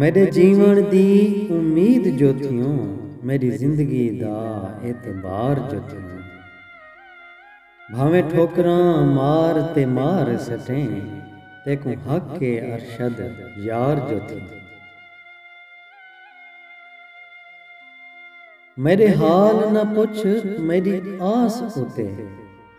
میݙے جیوݨ دی امید جو تھیوں میݙی زندگی دا اعتبار جو تھیوں بھانویں ٹھوکراں مار تے مار سٹیں تیکوں حق اے ارشد یار جو تھیوں میݙے حال نہ پچھ میݙی آس اتے۔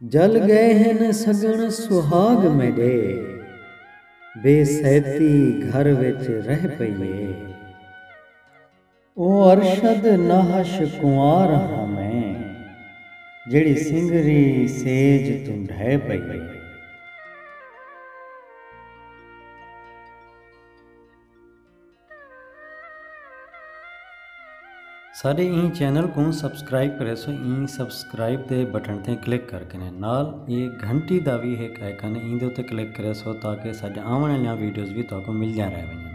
جل گئے ہن سڳݨ سہاڳ میݙے۔ بے سیتی گھر وچ رہ پئی اے۔ او ارشد ناہش کنوار ہاں میں۔ جیڑھی سنگری سیج توں ڈھہ پئی اے۔ ساڈے ایں چینل کوں سبسکرائب کریسو ایں سبسکرائب دے بٹن تے کلک کر کے نال اے گھنٹی دا وی ہک آئیکن ہے ایں دے تے کلک کریسو تاکہ ساڈے آون والیاں ویڈیوز وی تہاکوں ملدیاں رہ ونجن